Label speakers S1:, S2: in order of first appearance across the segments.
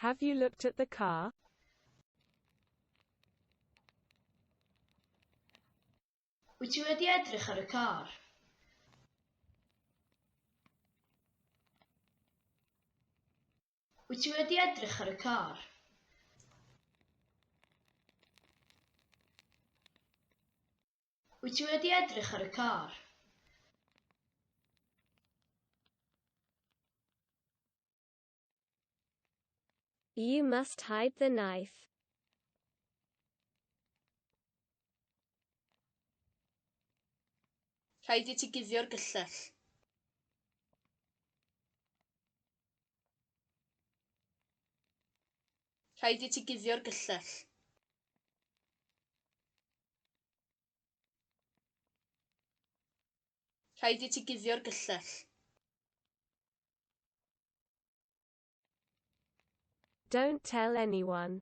S1: Have you looked at the car? Wyt ti wedi edrych ar y car? Wyt ti wedi edrych ar y car? Wyt ti wedi edrych ar y car? You must hide the knife. Rhaid i ti guddio'r gyllell. Rhaid i ti guddio'r gyllell. Rhaid i ti guddio'r gyllell. Don't tell anyone.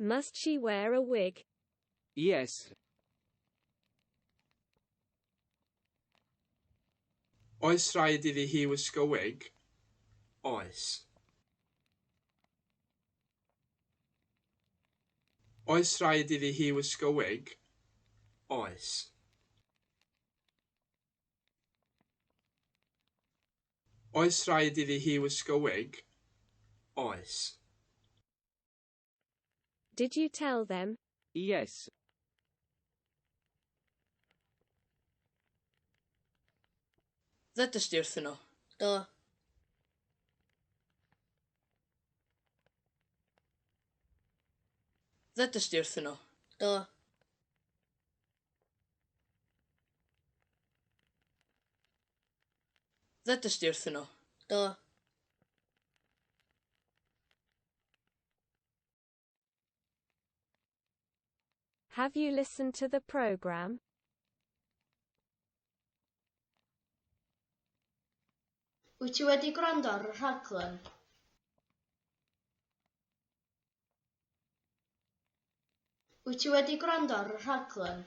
S1: Must she wear a wig? Yes. Oes rhaid iddi hi wisgo wig? Oes. Oes rhaid iddi hi wisgo wig? Oes. Oes rhaid iddi hi wisgo wig? Oes. Did you tell them? Yes. Ddedais di wrthyn nhw? Do. Ddedais di wrthyn nhw? Do. Ddedais di wrthyn nhw? Do. Have you listened to the program? Wyt ti wedi gwrando ar y rhaglen? Wyt ti wedi gwrando ar y rhaglen?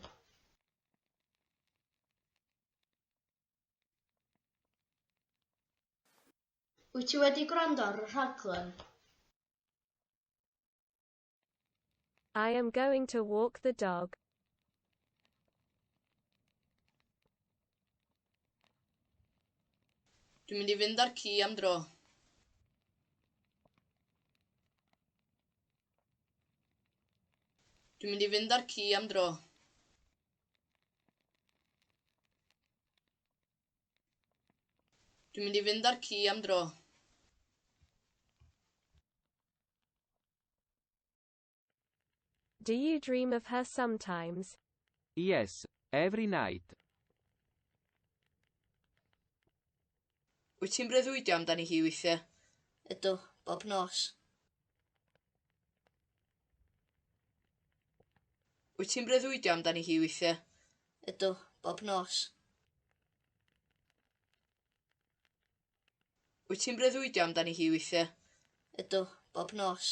S1: Wyt ti wedi gwrando ar y rhaglen? I am going to walk the dog. Dwi'n mynd i fynd â'r ci am dro. Dwi'n mynd i fynd â'r ci am dro. Dwi'n mynd i fynd â'r ci am dro. Do you dream of her sometimes? Yes, every night. Wyt ti'n breuddwydio amdani hi weithiau? Ydw, bob nos. Wyt ti'n breuddwydio amdani hi weithiau? Ydw, bob nos. Wyt ti'n breuddwydio amdani hi weithiau? Ydw, bob nos.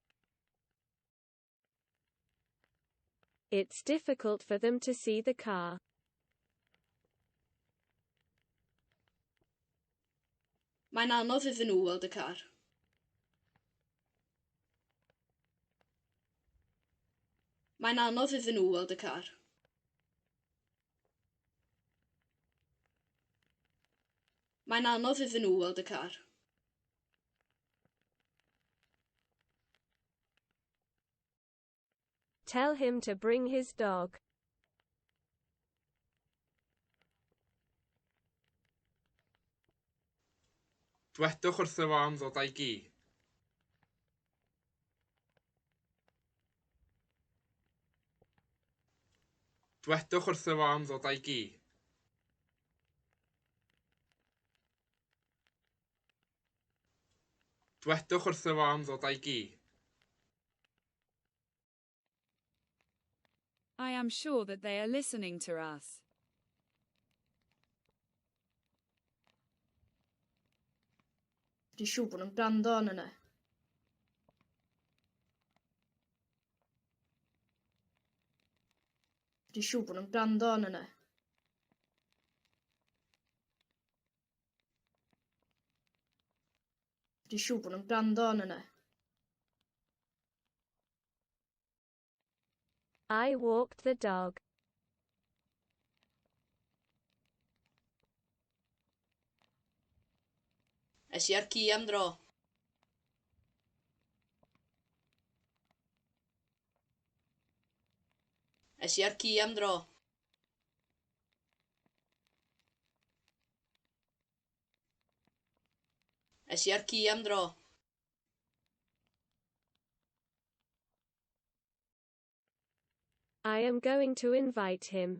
S1: It's difficult for them to see the car. Mae'n anodd iddyn nhw weld y car. Mae'n anodd iddyn nhw weld y car. Mae'n anodd iddyn nhw weld y car. Tell him to bring his dog. Dwedwch wrtho fo am ddod â'i gi. Dwedwch wrtho fo am ddod â'i gi. Dwedwch wrtho fo am ddod a'i gi. I am sure that they are listening to us. Dwi'n siŵr bod nhw'n gwrando arno ni. Dwi'n siŵr bod nhw'n gwrando arno ni. Dwi'n siŵr bod nhw'n gwrando yn yna. I walked the dog. Es i ar ci am dro. Es i ar ci am dro. Es i ar ci am dro. I am going to invite him.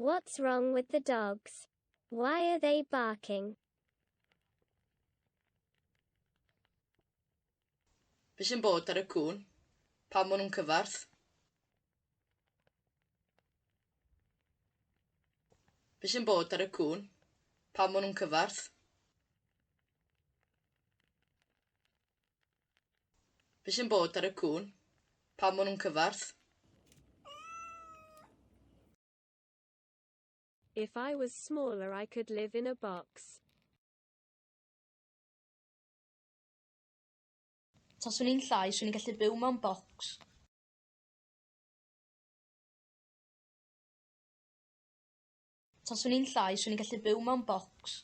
S1: What's wrong with the dogs? Why are they barking? Be sy'n bod ar y cŵn? Pam maen nhw'n cyfarth? Be sy'n bod ar y cŵn? Pam maen nhw'n cyfarth? Be sy'n bod ar y cŵn? Pam ma' nw'n cyfarth? If I was smaller I could live in a box. Taswn i'n llai, swn i'n gallu byw mewn bocs. Taswn i'n llai, swn i'n gallu byw mewn bocs.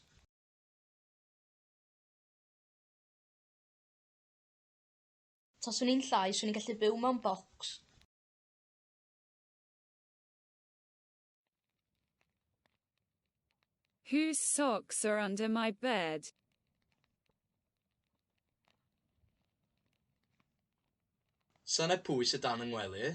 S1: Taswn i'n llai, 'swn i'n gallu byw mewn bocs. Whose socks are under my bed? Sane pwy sy dan 'y ngwely?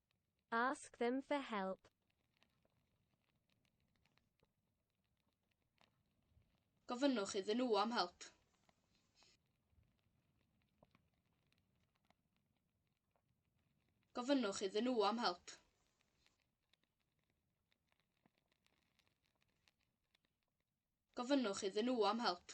S1: Ask them for help. Gofynnwch iddyn nhw am help. Gofynnwch iddyn nhw am help. Gofynnwch iddyn nhw am help.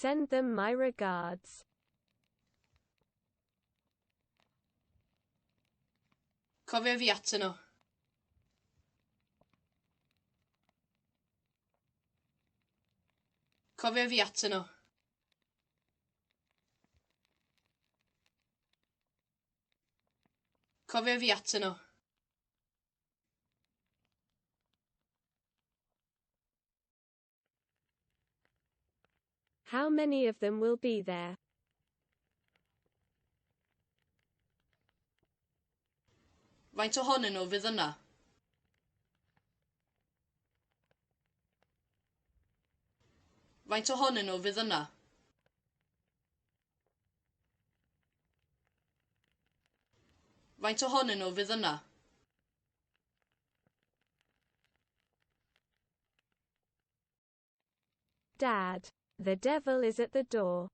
S1: Send them my regards. Cofio fi atyn nhw. Cofio fi atyn nhw. Cofio fi atyn nhw. How many of them will be there? Faint ohonyn nhw fydd yna? Faint ohonyn nhw fydd yna? Faint ohonyn nhw fydd yna? Dad, the devil is at the door.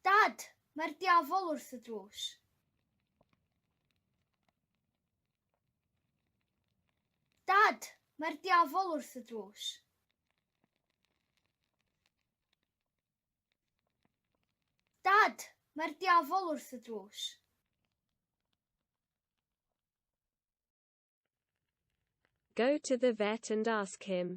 S1: Dad, mae'r diafol wrth y drws. Dad, mae'r diafol wrth y drws. Dad, mae'r diafol wrth y drws. Go to the vet and ask him.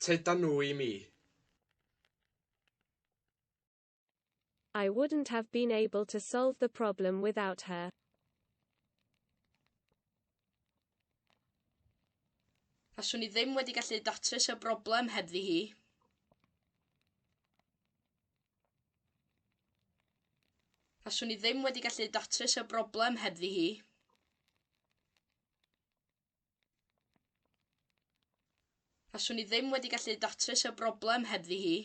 S1: Tydan nhw i mi. I wouldn't have been able to solve the problem without her. Faswn i ddim wedi gallu datrys y broblem hebddi hi. Faswn i ddim wedi gallu datrys y broblem hebddi hi. Faswn i ddim wedi gallu datrys y broblem hebddi hi.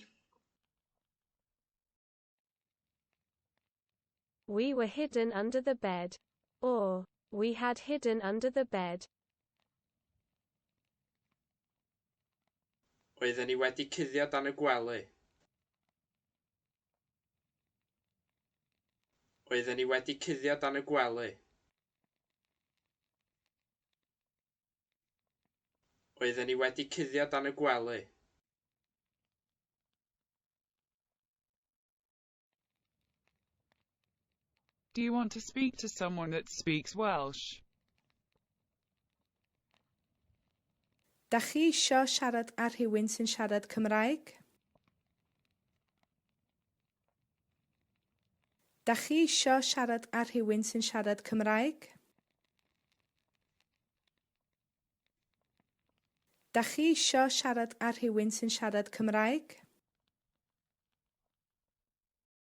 S1: We were hidden under the bed. Or, we had hidden under the bed. Oedden ni wedi cuddio dan y gwely. Oedden ni wedi cuddio dan y gwely. Oedden ni wedi cuddio dan y gwely. Do you want to speak to someone that speaks Welsh? Dach chi isio siarad â rhywun sy'n siarad Cymraeg? Dach chi isio siarad â rhywun sy'n siarad Cymraeg? Dach chi isio siarad â rhywun sy'n siarad Cymraeg?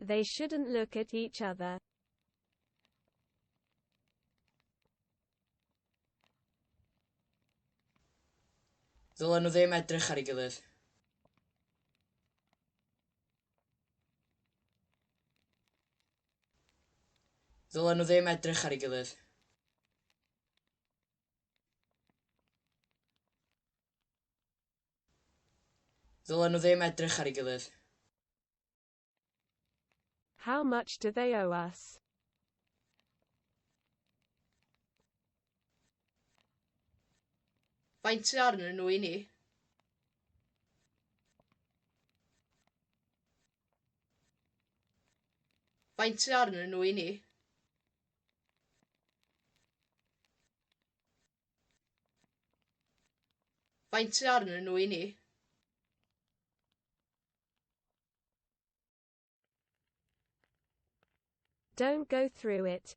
S1: They shouldn't look at each other. Ddylen nhw ddim edrych ar ei gilydd. Ddylen nhw ddim edrych ar ei gilydd. Ddylen nhw ddim edrych ar ei gilydd. How much do they owe us? Faint sydd arnyn nhw i ni? Faint sydd arnyn nhw i ni? Faint sy arnyn nhw i ni? Don't go through it.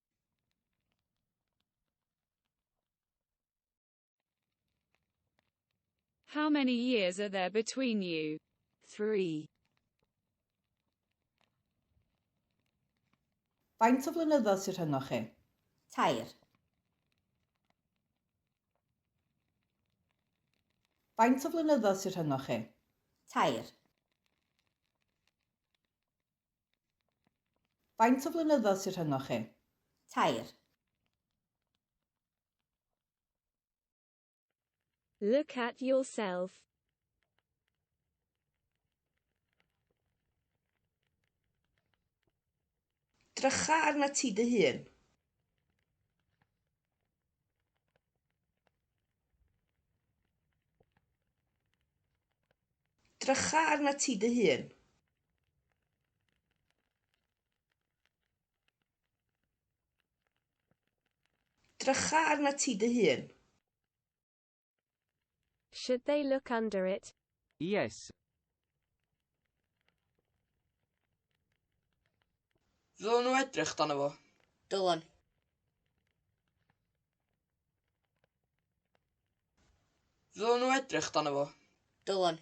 S1: How many years are there between you? 3. Faint o flynyddoedd sydd rhyngoch chi? Tair. Faint o flynyddoedd sydd rhyngoch chi? Tair. Faint o flynyddoedd sy rhyngoch chi? Tair. Look at yourself. Drycha arnat ti dy hun. Drycha arnat ti dy hun. Drycha arna ti dy hun. Should they look under it? Yes. Ddylen nhw edrych dan fo? Dylen. Ddylen nhw edrych dan fo? Dylen.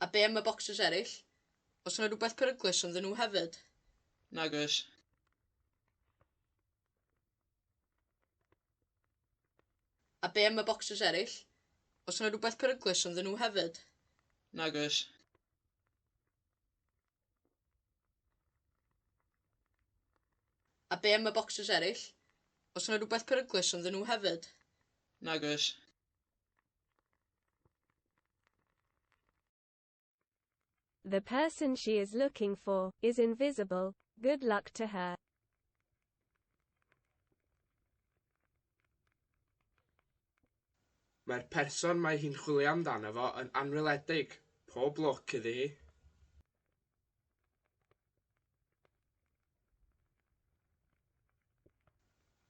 S1: A be am y bocsys eraill? Os yna rhywbeth peryglus ynddyn nhw hefyd? Nag oes. A be am y bocsys eraill? Os yna rhywbeth peryglus ynddyn nhw hefyd? Nag oes. A be am y bocsys eraill? Os yna rhywbeth peryglus ynddyn nhw hefyd? Nag oes. The person she is looking for is invisible. Good luck to her. Mae'r person mae hi'n chwilio amdano fo yn anweledig. Pob lwc iddi hi.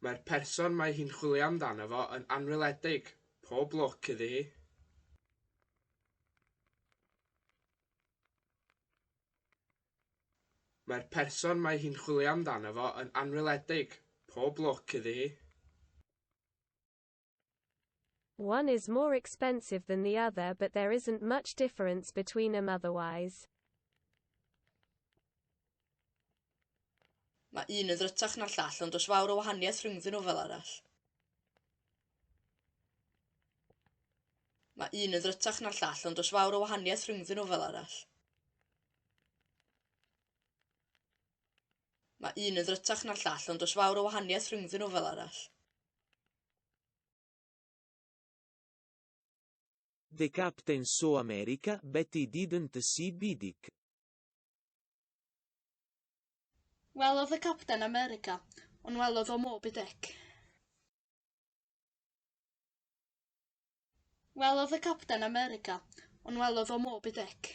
S1: Mae'r person mae hi'n chwilio amdano fo yn anweledig. Pob lwc iddi hi. Mae'r person mae hi'n chwilio amdano fo yn anweledig. Pob lwc iddi hi. One is more expensive than the other but there isn't much difference between them otherwise. Mae un yn ddrytach na'r llall ond does fawr o wahaniaeth rhyngddyn nhw fel arall. Mae un yn ddrytach na'r llall ond does fawr o wahaniaeth rhyngddyn nhw fel arall. Mae un yn ddrytach na'r llall ond does fawr o wahaniaeth rhyngddyn nhw fel arall. The Captain Saw America but he didn't see Bidic. Welodd y Capten America ond welodd o Moby Dick. Welodd y Capten America ond welodd o Moby Dick.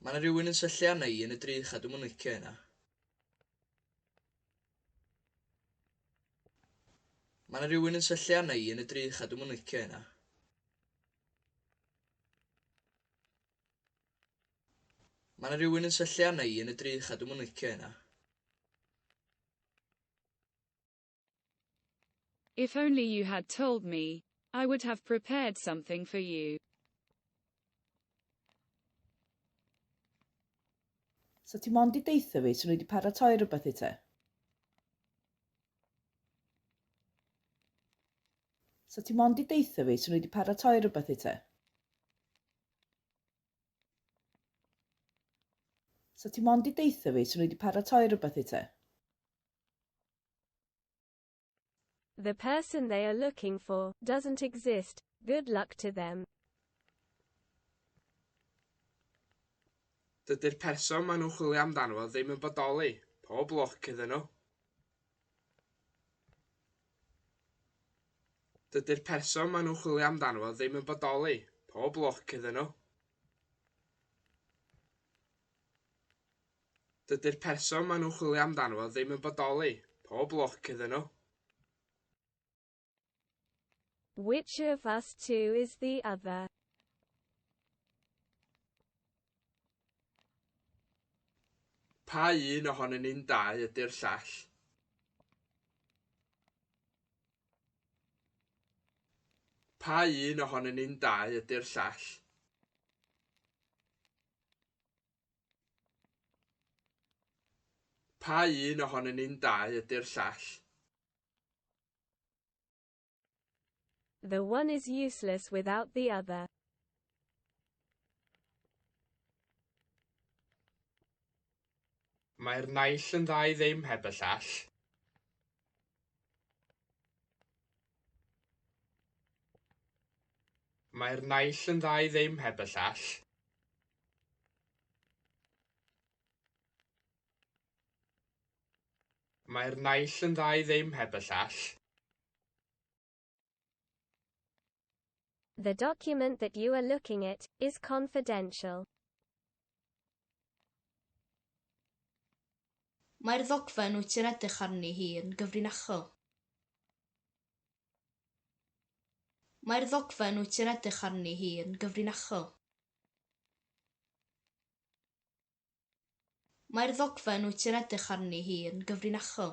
S1: Mae yna rhywun yn syllu arna i yn y drych a dwi'm yn licio hynna. Mae yna rhywun yn syllu arna i yn y drych a dwi'm yn licio hynna. Mae yna rhywun yn syllu arna i yn y drych a dwi'm yn licio hynna. If only you had told me, I would have prepared something for you. So ti mond i deitha fi, so ni wedi paratoi rhywbeth i te? So ti mond i deitha fi, so ni wedi paratoi rhywbeth i te? So ti mond i deitha fi, so ni wedi paratoi rhywbeth i te? The person they are looking for doesn't exist. Good luck to them. Dydy'r person maen nhw'n chwilio amdano fo ddim yn bodoli. Pob lwc iddyn nhw. Dydy'r person maen nhw'n chwilio amdano fo ddim yn bodoli. Pob lwc iddyn nhw. Dydy'r person maen nhw'n chwilio amdano fo ddim yn bodoli. Pob lwc iddyn nhw. Which of us two is the other? Pa un ohonyn ni'n dau ydy'r llall? Pa un ohonyn ni'n dau ydy'r llall? Pa un ohonyn ni'n dau ydy'r llall? The one is useless without the other. Mae'r naill yn dda i ddim heb y llall. Mae'r naill yn dda i ddim heb y llall. Mae'r naill yn dda i ddim heb y llall. The document that you are looking at is confidential. Mae'r ddogfen wyt ti'n edrych arni hi yn gyfrinachol. Mae'r ddogfen wyt ti'n edrych arni hi yn gyfrinachol. Mae'r ddogfen wyt ti'n edrych arni hi yn gyfrinachol.